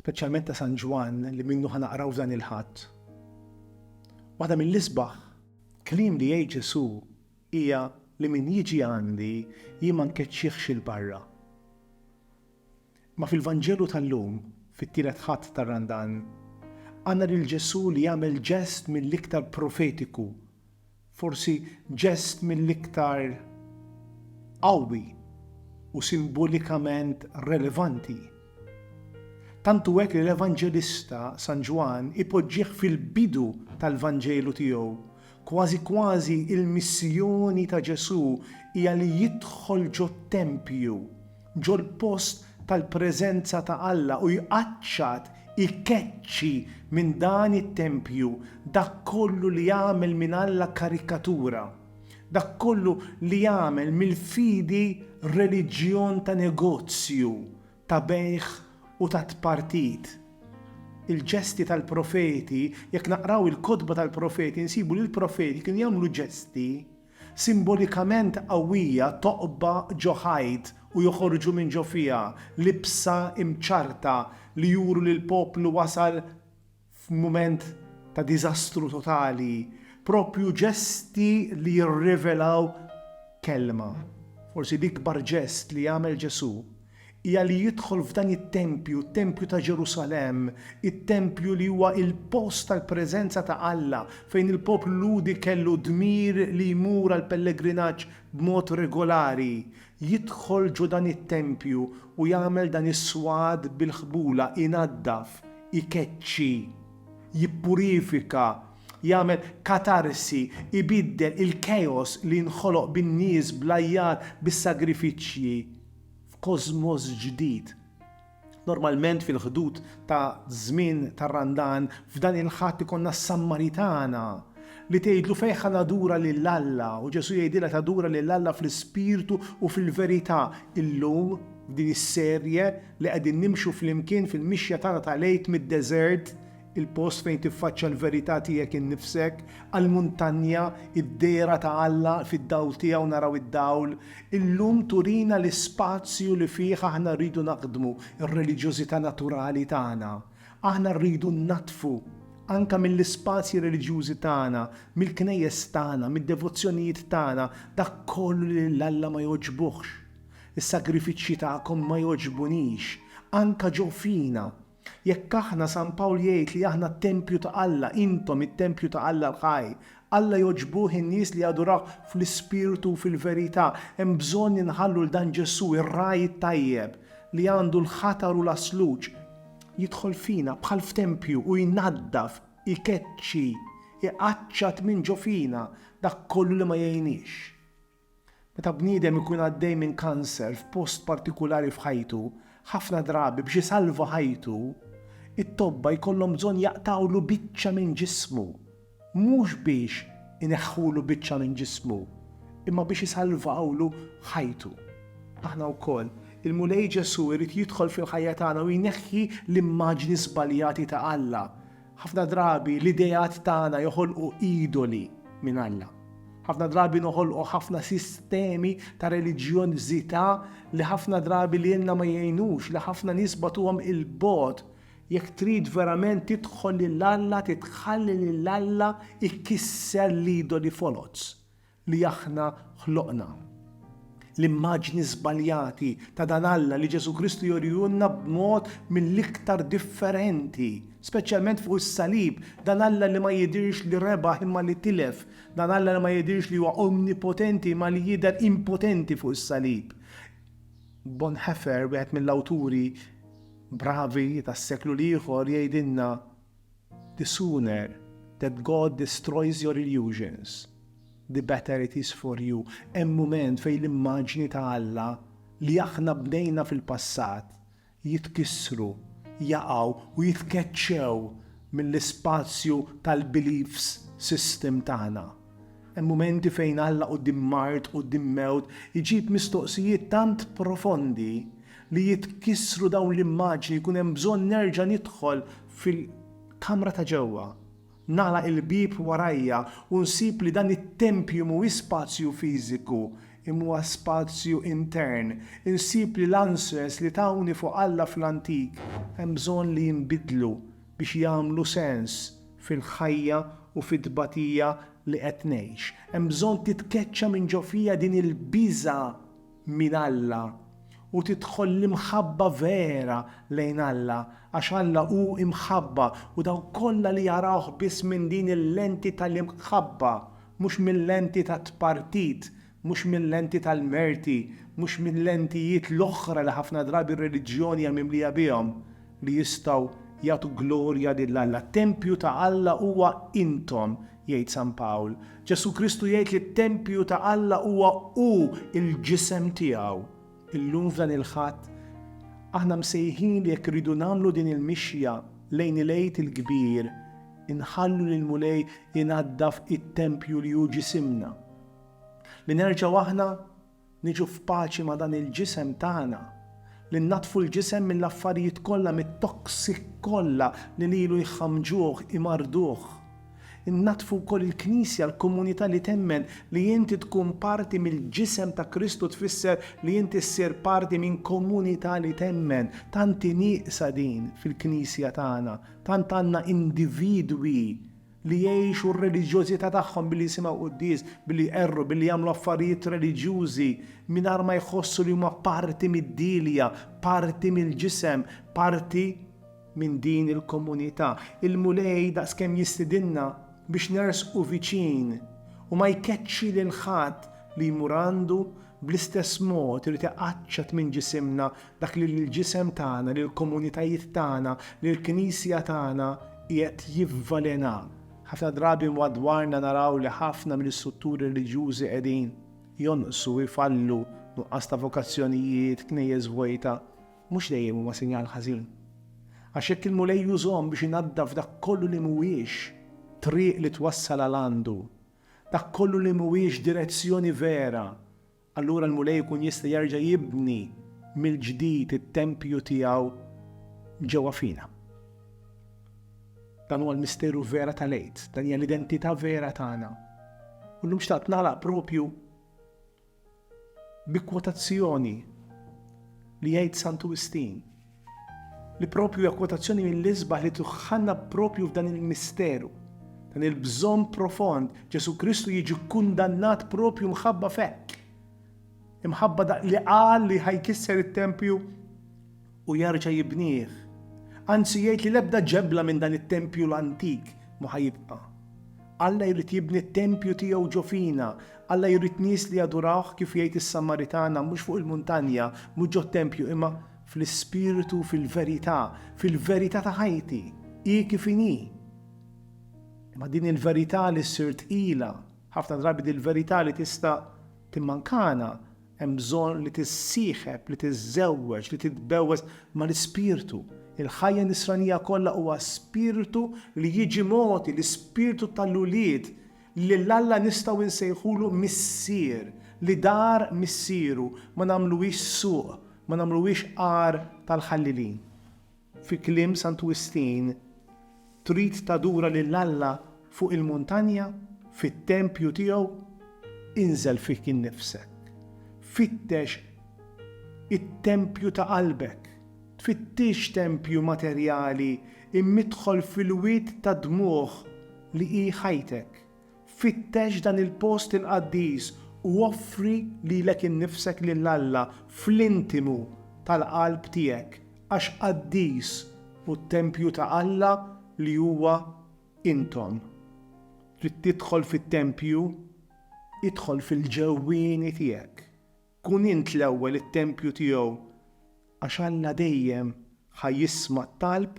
speċjalment ta' San Ġwann li minnu ħa naqraw f'dan il-Ħadd. Waħda mill-isbaħ kliem li jgħid Ġesù hija li min jiġi għandi jien ma nkeċċihx 'il barra. Imma fil-Vanġelu tal-lum, fit-Tielet Ħadd tar-Randan, għandna lil Ġesù li jagħmel ġest mill-iktar profetiku Forsi ġest mill-iktar qawwi u simbolikament relevanti. Tant hu hekk li l-Evanġelista San Ġwann ipoġġih fil-bidu tal-Vanġelu tiegħu, kważi kważi l-missjoni ta' Ġesù hija li jidħol ġot-tempju ġol-post tal-preżenza ta' Alla u jqaċċat, ikeċċi, minn dan it-tempju dak kollu li jagħmel minn Alla karikatura, dak kollu li jagħmel mill-fidi reliġjon ta' negozju, ta' bejgħ u ta' tpartit. Il-ġesti tal-profeti, jekk naqraw il-kotba tal-profeti nsibu li l-profeti kienu jagħmlu ġesti, Simbolikament qawwija toqba ġo ħajt u joħorġu minn ġo fiha libsa imċarrta li juru li l-poplu wasal f'mument ta' diżastru totali, proprju ġesti li jirrivelaw kelma, forsi l-ikbar ġest li għamel Ġesù. hija li jidħol f'dan it-tempju, t-tempju ta' Ġerusalemm, it-tempju li huwa l-post tal-preżenza ta' Alla, fejn il-poplu Lhudi kellu d-dmir li jmur għall-pellegrinaġġ b'mod regolari, jidħol ġo dan it-tempju u jagħmel dan is-swad bil-ħbula, inaddaf, ikeċċi, jippurifika, jagħmel katarsi, ibiddel il-chaos li nħoloq bin-nies, bl-għajjat, bis-sagrifiċċji. f'kożmos ġdid. Normalment fil-ħdud ta' żmien tar-Randan f'dan il-Ħadd ikollna s-Sammaritana li tgħidlu fejn ħa nadura lil Alla u Ġesù jgħidilha tadura lil Alla fl-ispirtu u fil-verità. Illum f'din is-serje li qegħdin nimxu flimkien fil-mixja tagħna tal-Għid mid-deżert, Il-post fejn tiffaċċja l-verità tiegħek innifsek, għall-muntanja, id-dehra ta' Alla, fid-dawl tiegħu naraw id-dawl. Illum turina l-ispazju li fih aħna rridu naħdmu r-reliġjożità naturali tagħna. Aħna rridu nnaddfu anke mill-ispazji reliġjużi tagħna, mill-knejjes tagħna, mid-devozzjonijiet tagħna, dak kollu li lil Alla ma jogħġbuhx. Is-sagrifiċċji tagħkom ma jogħġbunix, anke ġo fina, Jekk aħna, San Pawl jgħid li aħna t-tempju ta' Alla, intom it-tempju ta' Alla l-ħaj. Alla jogħġbuh in-nies li jadurawh fl-ispirtu u fil-verità. Hemm bżonn inħallu 'l dan Ġesù, ir-Ragħaj it-Tajjeb, li għandu l-ħatar u l-għasluġ, jidħol fina bħal f'tempju u jnaddaf, ikeċċi, iqaċċat minn ġo fina dak kollu li ma jgħinniex. Meta bniedem ikun għaddej minn kanser f'post partikulari f'ħajtu, ħafna drabi biex isalva ħajtu, it-tobba jkollhom bżonn jaqtgħulu biċċa minn ġismu. Mhux biex ineħħulu biċċa minn ġismu, imma biex isalvawlu ħajtu. Aħna wkoll, il-Mulej Ġesù jrid jidħol fil-ħajja tagħna u jneħħi l-immaġni żbaljati ta' Alla. Ħafna drabi l-ideat tagħna joħolqu idoli minn Alla. Ħafna drabi noħolqu ħafna sistemi ta' reliġjonżità li ħafna drabi lilna ma jgħinux, li ħafna nies bagħtuhom 'il bogħod. Jekk trid verament tidħol lil Alla titħalli lil Alla jkisser l-idoli foloz li aħna ħloqna. L-immaġni żbaljati ta' dan Alla li Ġesù Kristu jurihulna b'mod mill-iktar differenti, speċjalment fuq is-salib, dan Alla li ma jidhirx li rebaħ imma li tilef, dan Alla li ma jidhirx li huwa omnipotenti imma li jidher impotenti fuq is-salib. Bonhoeffer, wieħed mill-awturi bravi tas-seklu l-ieħor, jgħidilna, The sooner that God destroys your illusions, the better it is for you. Hemm mument fejn l-immaġni ta' Alla li aħna bnejna fil-passat jitkissru, jaqgħu u jitkeċċew mill-ispazju tal-beliefs system tagħna. Hemm mumenti fejn Alla quddiem mard, quddiem mewt, iġib mistoqsijiet tant profondi li jitkissru dawn l-immaġni, jkun hemm bżonn nerġa' nidħol fil-kamra ta' ġewwa, nagħlaq il-bieb warajja u nsib li dan it-tempju mhuwiex spazju fiżiku imma huwa spazju intern, insib li l-answers li tawni fuq Alla fl-antik hemm bżonn li jinbidlu biex jagħmlu sens fil-ħajja u fit-tbatija li qed ngħix. Hemm bżonn titkeċċa minn ġo fija din il-biża' minn Alla u tidħol l-imħabba vera lejn Alla, għax Alla hu imħabba u dawk kollha li jarawh biss minn din il-lenti tal-imħabba, mhux mil-lenti tat-tpartit, mhux minn lenti tal-merti, mhux minn lentijiet l-oħra li ħafna drabi r-reliġjoni hija mimlija bihom, li jistgħu jagħtu glorja lil Alla. T-tempju ta' Alla huwa intom, jgħid San Pawl. Ġesù Kristu jgħid li t-tempju ta' Alla huwa hu, il-ġisem tiegħu. Illum f'dan il-Ħadd, aħna msejħin li jekk irridu nagħmlu din il-mixja lejn il-Għid il-Kbir, inħallu lill-Mulej inaddaf it-tempju li hu ġisimna. Li nerġgħu aħna niġu f'paċi ma' dan il-ġisem tagħna, li nnaddfu l-ġisem mill-affarijiet kollha, mit-toxic kollha li lilu jħammġuh, imarrduh. Innaddfu wkoll il-Knisja, l-komunità li temmen li inti tkun parti mill-ġisem ta' Kristu tfisser li inti ssir parti minn komunità li temmen. Tant hi nieqsa din fil-Knisja tagħna, tant għandna individwi, li jgħixu r-reliġjożità tagħhom billi jisimgħu quddies, billi jqerru, billi jagħmlu affarijiet reliġjużi mingħajr ma jħossu li huma parti mid-dielja, parti mill-ġisem, parti minn din il-komunità. Il-Mulej daqskemm jistidinna biex nersqu viċin u ma jkeċċi lil ħadd li jmur għandu bl-istess mod irid iqaċċat minn ġisimna Dak li l-ġisem tagħna, lill-komunitajiet tagħna, lill-Knisja tagħna qiegħed jivvalena. Ħafna drabi madwarna naraw li ħafna mill-istrutturi reliġjużi qegħdin jonqsu, ifallu, nuqqas ta' vokazzjonijiet, knejjes vojta. Mhux dejjem huma sinjal ħażin. Għax jekk il-Mulej jużhom biex inaddaf dak kollu li mhuwiex triq li twassal għal għandu, dak kollu li mhuwiex direzzjoni vera, Allura l-Mulej ikun jista' jerġa' jibni mill-ġdid it-tempju tiegħu ġewwa fina. Dan huwa l-misteru vera tal-Għid, dan hija l-identità vera tagħna. U llum xtaqt nagħlaq propju bi kwotazzjoni li jgħid Santu Wistin. Li proprju hija kwotazzjoni mill-isbaħ li tuħħanna proprju f'dan il-misteru, dan il-bżonn profond, Ġesù Kristu jiġi kkundannat proprju mħabba f'hekk. Imħabba dak li qal li ħa jkisser it-tempju u jerġa' jibnieh. Anzi jgħid li l-ebda ġebla minn dan it-tempju l-antik mhu ħa jibqa'. Alla jrid jibni t-tempju tiegħu ġo fina, Alla jrid nies li jadurawh kif jgħid is-Samaritana mhux fuq il-muntanja, mhux ġot-tempju imma Fl-ispirtu, fil-verità, fil-verità ta' ħajti, hi kif inhi. Imma din il-verità li ssir tqila, ħafna drabi din il-verità li tista' timmankana, hemm bżonn li tissieħeb, li tiżżewweġ, li titbewweż mal-ispirtu. Il-ħajja nisranija kollha huwa spirtu li jiġi mogħti, l-ispirtu tal-ulied, Lil Alla nistgħu nsejħulu Missier, li dar Missieru, ma nagħmluhiex suq, ma nagħmluhiex għar tal-ħallilin. Fi kliem Santu Wistin, trid tadura lil Alla fuq il-muntanja, fit-tempju tiegħu? Inżel fik innifsek. Fittex it-tempju ta' qalbek. Tfittixx tempju materjali imma idħol fil-wied tad-dmugħ li hi ħajtek, fittex dan il-post il-qaddis u offri lilek innifsek lil Alla fl-intimu tal-qalb tiegħek, għax qaddis hu t-tempju ta' Alla li huwa intom. Trid tidħol fit-tempju? Idħol fil-ġewwieni tiegħek. Kun int l-ewwel it-tempju tiegħu, għax Alla dejjem ħa jisma' t-talb